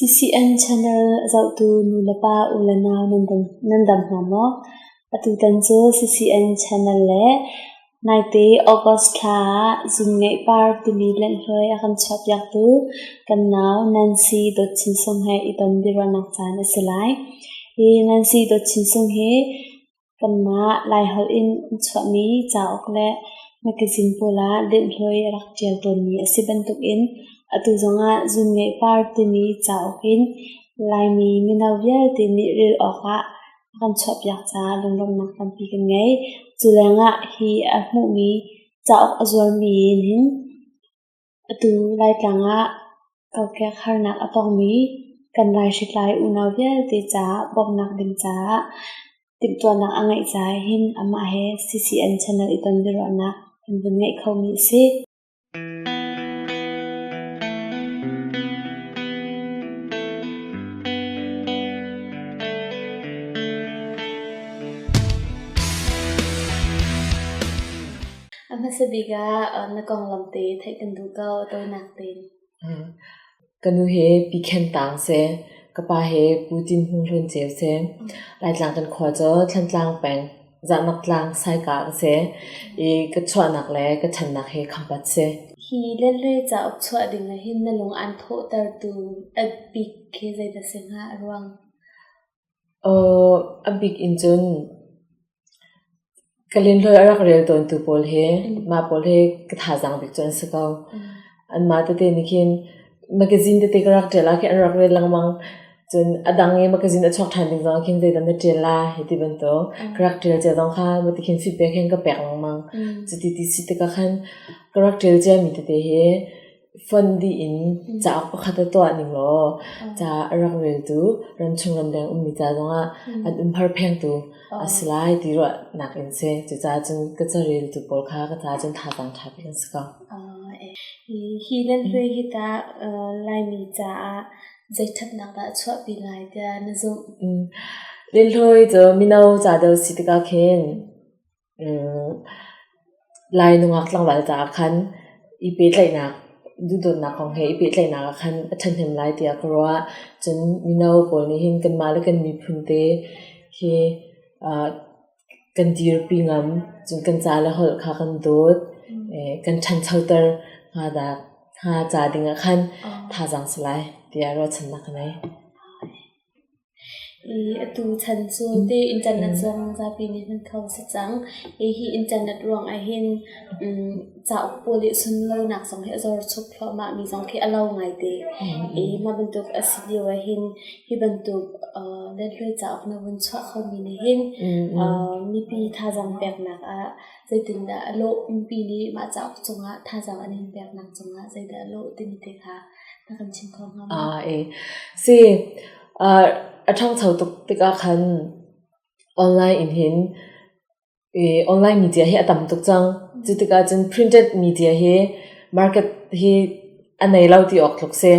CCN channel zohtu nulepa u le nau nan dam hna maw? Atutan cu CCN channel le naite August thla ah Zingngeih Par timi lenhloi a kan chuahpiaktu kan nau Nancy Dawt Chin Sung he i ton biaruahnak caan a si lai. Hi Nancy Dawt Chin Sung hi Kanmah Laiholh in an chuahmi cauk le mekazin pawl ah lenhloi a rak ṭial tawnmi a si bantukin atu zongah Zunngeihpar timi cauk in Laimi mino vialte nih rel awkah a kan chuahpiak caah lunglawmhnak tampi kan ngei. Cu lengah hi a hmuhmi cauk a zuarmi in hin Atu Laitlang ah kokek harnak a tongmi kan laihritlai unau vialte caah bawmhnak ding caah timhtuahnak a ngeih caah hin amah he CCN channel i ton biaruahnak kan vun ngeih khomi a si. A hmasa bik ah na konglam te theih kan duh ko a tawinak tein. Ka nu he pi khen taang seh. Ka pa he pu tin hung hlun ceu seh. Laitlang kan khua cu Thlantlang peng Zahnak tlang saika ka seh. I ka chuahnak le ka thannak he khampat seh. Hi lehle cauk chuah ding ah hin na lung aan thawhtertu a bik khi zeidah si hnga a ruang? Aw, a bik in cun ka linhlawi a rak rel tawntu pawl he, mah pawl he ka thazaang bik cu an si ko. Anmah tete nih khin magazine tete ka rak ṭial ah khin an rak rel lengmang. Cun a dang i magazine a chuak ṭhan ding zongah khin zeidah na ṭial la hi ti bantuk. Ka rak ṭial cia zong kha bati khin feedback he hin ka pek lengmang. Cuti ti si tikah khan ka rak ṭial ciami tete hi fonh dih in cauk pakhat ah tuah ning law ca a rak reltu ramchung ramdeng ummi ca zongah an um har phengtu a si lai ti ruahnak in si. Cucaah cun ka careltu pawl kha ka caah cun thazaang ṭha bik an si ko. Hi nan hue hi tah Laimi caah zei ṭhatnak dah a chuahpi lai tiah na zumh? Lilhlawi cu mino ca deuh si tikah khin Lai nungak tlangval caah khan i pehtlaihnak, duhdawtnak kong he i pehtlaihnak ah khan a ṭhahnem lai tiah ka ruah. Cun mino pawl nih hin kanmah le kan miphun te khi kan dirpi ngam. Cun kan ca le holh kha kan dawt, kan ṭhanchoter hnga ca ding ah khan thazaang sa lai tiah ruahchannak ka ngei. Hi atu chan cu ti internet zong zapi nih hman kho a si cang. Hihi internet ruang ahhin cauk pawl i sunlawinak zong hi a zor chuk thluahmah mi zong khi a lau ngaite. Mah bantuk a si lio ahhin hi bantuk lenhloi cauk na vun chuah kho mi nih hin mipi thazaang peknak ah zeitindah a lawh, mipi nih mah cauk cungah thazaang an in peknak cungah zeidah a lawh timi te kha Si, a ṭhangcho tuk tikah khan online in hin online media hi a tam tuk cang. Cu tikah cun printed media hi market hi a nei lo ti awk tluk si.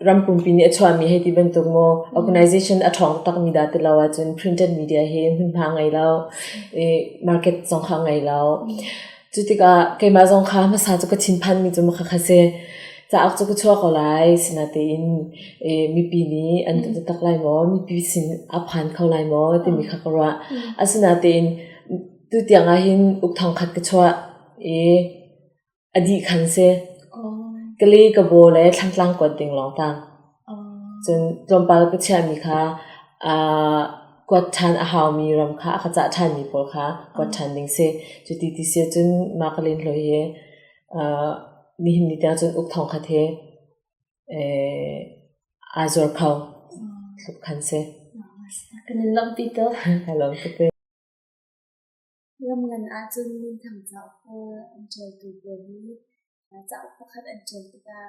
Ram pumpi nih a chuahmi hei ti bantuk maw organization a ṭhawng taktakmi dah ti lo ahcun printed media hi hmunhma ngei lo, market zong kha ngei lo. Cu tikah keimah zong kha hmasa cu ka thinphanmi cu makha kha si. Cauk cu ka chuah ko lai, sinatein mipi nih an ka biatak lai maw, mipi sin a phan kho lai maw timi kha ka ruah. Asinatein tutiang ahhin uk thongkhat ka chuah i a dih khan si. Ka le, ka baw le thlantlang kuat ding lawng tang. Cun tlawmpal ka chiahmi kha aa kuat ṭhan a haumi ram kha a ka cah ṭhanmi pawl kha kuat ṭhan ding si. Cuti ti si ahcun mah ka len hlawi hi aa nihin ni tiang cun uk thawng khat hi aa zuar kho tluk khan si. Kan in lawmhpi tuk. Ka lawm tuk ve. Ram ngan ahcun minthang cauk pawl an ṭialtu pawl nih cauk pakhat an ṭial tikah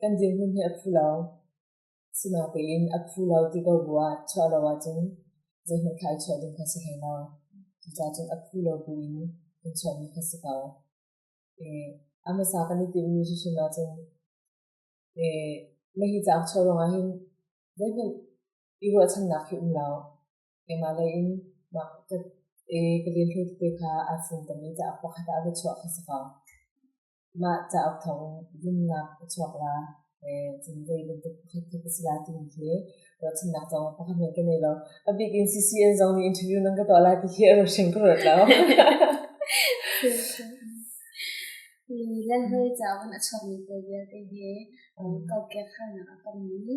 Kan dirhmun hi a phu lo. Sinain a phu lo ti ko bu ah chuah lo ahcun zeihmanh thlai chuah ding kha si hlei lo. Cucaah cun a phu lo buin kan chuahmi kha si ko. A hmasa kan i timhmi hrimhrim ahcun na hi cauk chuah ruangah hin zeihmanh i ruahchannak hi um lo. keimah lei in mah i ka linhlu tete kha aa fung tami cauk pakhat ah va chuah kha si ko. Mah cauk thawng zumnak ka chuak la, cun zei bantuk pakhat khi ka si lai timi khi ruahchannak zong pakhat hmanh ka nei lo. A bik in CCN zong nih interview nan ka tuah lai ti khi a ruahring ka ruat lo. Ni le hawi cauk in a chuakmi te vialte hi kokek harnak a tongmi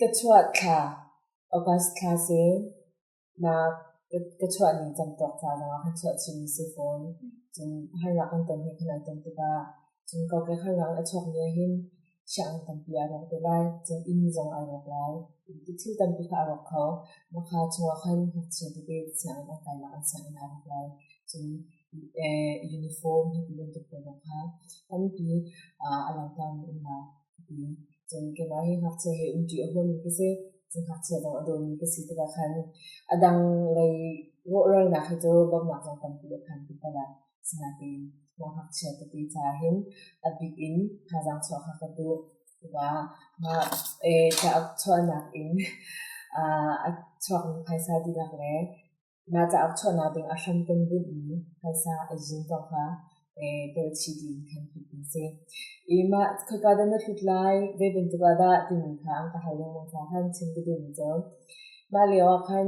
Ka chuah thla August thla si. Nak ka chuah ning kan tuak ca zongah kan chuah chin si fawn. Cun harnak an ton hi kan an ton tikah cun kokek harnak a chuak ni ahhin siang tampi a rawk te lai. Cun inn zong a rawk lai. Thil tampi kha a rawk kho. Maka chungah khan ngakchia tete sianginn an kai lai, an sianginn a rawk lai. Cun uniform bantuk hna kha tampi a langhter mi um hna. Cun keimah hi ngakchia he umṭi a huam mi ka si. Cun ngakchia dang a dawmi ka si tikah khan a dang lei rawhralnak hi cu dawtnak lawng tampi le phanpi ka ngei. Asinain mah ngakchia tete caah hin a bik in thazaang chuah kha ka duh. Cucaah mah ca a chuahnak in a chuak mi phaisa dihlak le Na cauk chuahnak ding a hram kan bunh i phaisa a zun paoh kha tuahchih ding kan hmuh an si. I mah khoika dah na hlut lai, zei bantuk ah dah timi kha an ka hal lengmang kha han chim ka duhmi cu. Mah lio ah khan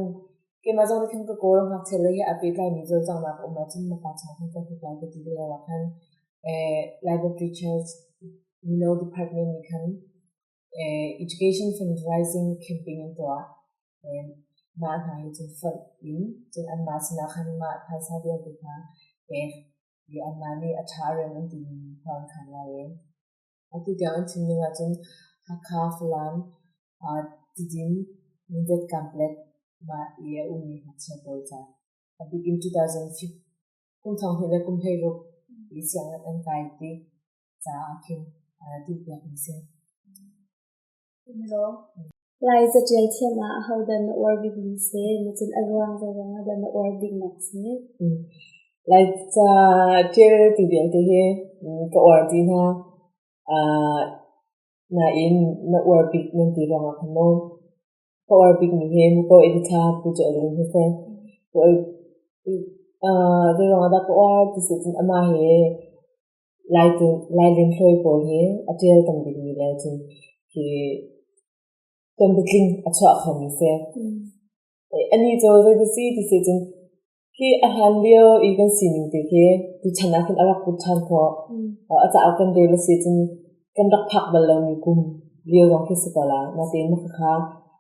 keimah zong nih khan ka kawl ngakchia le he a pehtlaimi cawlcanghnak a um ahcun na pa cung ah khan ka hlut lai ka ti lio ah khan library charge mino department nih khan education fund rising campaign an tuah. And mah hna hi cun fonh in cun anmah sinah khan mah phaisa vialte hna pek i anmah nih a ṭha rem an timi thawng khan lai ee. Atu tiang an chimning ahcun Hakha, Falam, ah Tidin, Mindat complex mah i a ummi ngakchia pawl ca. A bik in 2015 kum thong he le kum hleiruk i siang an kai ti. caah khin duh piak in si. Lai catial thiam ah ahodan na uar bik mi si, na cun a ruang zong ah dan na uar bik nak si. Lai catial ti vialte hi ka uar ti hna. Nain na uar bik nan ti zong ah khan maw. Ka uar bik mi hi muko edita pu cu rin hi se. Zong ah da ka uar ti si cun ama hi Lailun hlawi pawl hi a tial kan dingmi le cu hi tonbitling a chuah khomi si. Anih cu zeidasi ti si cun hi a hlan lio i kan sining te khi tuchan ah khin a rak put ṭhan khawh. A cauk kan rel a si cun kan rak phak bal lomi kum lio lawng khi si ko la. Natein mah khakha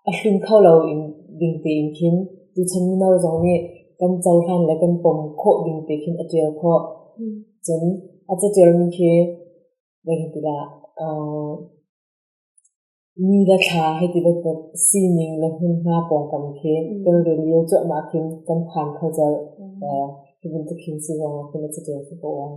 a hlim kho loin ding tein khin tuchan mino zong nih kan cohlan le kan pom khawh ding te khin a tial khawh. Cun a catialmi khi voi hin tikah uh, mi le thla hei ti bantuk sining le hmunhma pawngkam khi kan rel lio cuahmah khin kan phan kho cal hi bantuk khin si zong ah khin a catial si ko ong.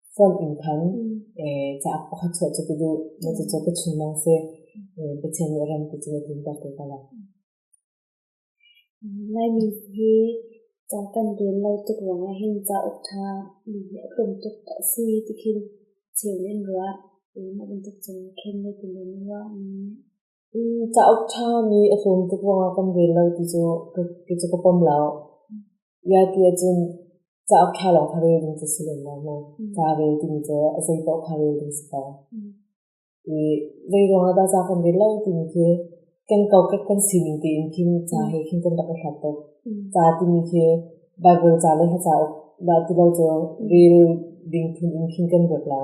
Form in khan cauk pakhat chuah cu ka duh. Cucu ka chimh a si. Pathian nih a ran ti cu a tlinter ko ka lak. Laimi hi ca kan rel lo tuk ruangah hin cauk ṭha nihin a tlawm tuk a si ti khin cheu in ruah. Na bantuk cun khen le ti nan ruah. Cauk ṭha nih a tlun tuk ruangah kan rel lo ti cu kei cu ka pom lo. Iati ahcun cauk ṭha lawng kha rel ding cu si lem lo mu. Ca rel timi cu a zei paoh kha rel ding si ko. I zei ruangah dah ca kan rel lo timi khi kan kokek kan sining tein khin ca he khin kan rak i hlat tuk. Ca timi khi Baibal ca le hla cauk dah ti lo cu rel ding phun in khin kan ruat lo.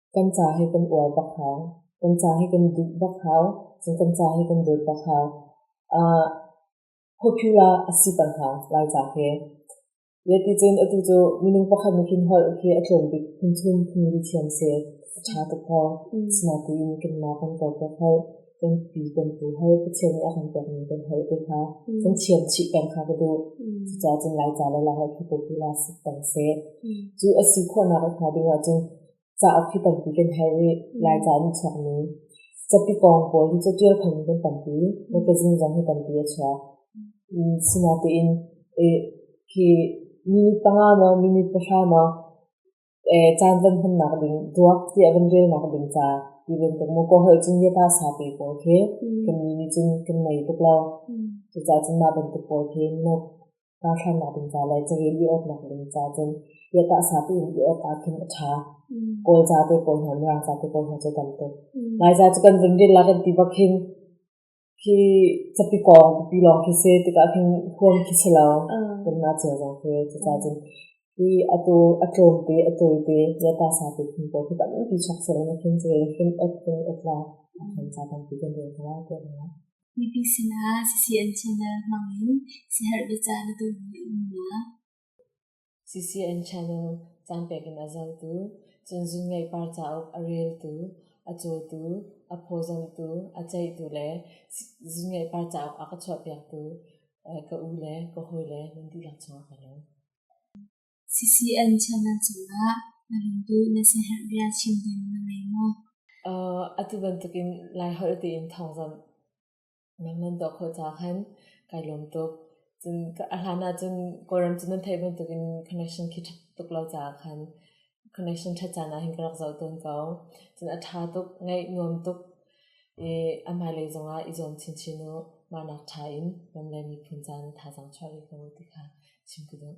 kan ca hi kan uar bak hau, kan ca hi kan duh bak hau, cun kan ca hi kan dawt bak hau. Uh, hophiul ah a si pang hau, lai ca khi. Yeti cun atu cu minung pakhat nih khin holh khi a tlawm bik phun chun phun ri thiam si. A tha tuk hau. Sna tu in kan ma kan kor bak hau. Kan pi kan tu hau, Pathian nih a kan pek ning kan hol te kha. Kan thiam chih peng kha ka duh. Cuca cun lai ca le la holh khi hophiul ah si pang si. Cu a si khawhnak a tha deuh ah cun Cauk hi tampi kan herh rih. Laica an i chuakmi. Capi pawng pawl hi cu ṭial thang kan tampi. Mekazin zong hi tampi a chuak. Sinain hi minute panga maw minute pahra maw caan van hmannak ding ruak tiah van relnak ding ca ti bantuk maw kaw holh cun yata sapi pawl khi kan ni nih cun kan ngei tuk lo. Cucacun mah bantuk pawl khi nuk. kaa thlennak ding ca le cahil i awtnak ding ca cun yatah sa piin i awk ah khin a ṭha. Kawl ca te kawl hna, Mirang ca te kawl hna cu tam tuk. Lai ca cu kan zung din la kan ti bak hin khi capi kong pi lawng khi se tikah khin huam khi si lo kan na cia zong khi cuca cun i atu a tlawm te a tawi te yata sa te khin ko khi tampi chak se na khin ce khin at khin at la a khan ca tam pi kan rel kala ko na Mipi sinah CCN channel hmangin siaherh biacah na duhmi a umnak CCN channel caan pek in a zotu, cunzungeipar cauk a reltu, a cawtu, a phawzamtu, a ceihtu le zungeipar cauk a ka chuahpiaktu ka u le ka hawile nan dihlak chungah ka lawm. CCN channel cungah na run duh na siaherh bia chim ding na ngei maw? Uh, atu bantukin Laiholh tiin thawngzamh nang nan doh kho ca khan kai lawm tuk. Cun a hlan ahcun Kawlram cu nan theih bantukin connection khi ṭha tuk lo caah khan connection ṭhat caan ah hin ka rak zoh tawn ko. Cun a ṭha tuk, ngaih nuam tuk i a hmailei zongah i zuam chinchin u. Mahnak ṭha in ramleng miphun caan thazaang chuah rih ko u ti kha chim ka duh.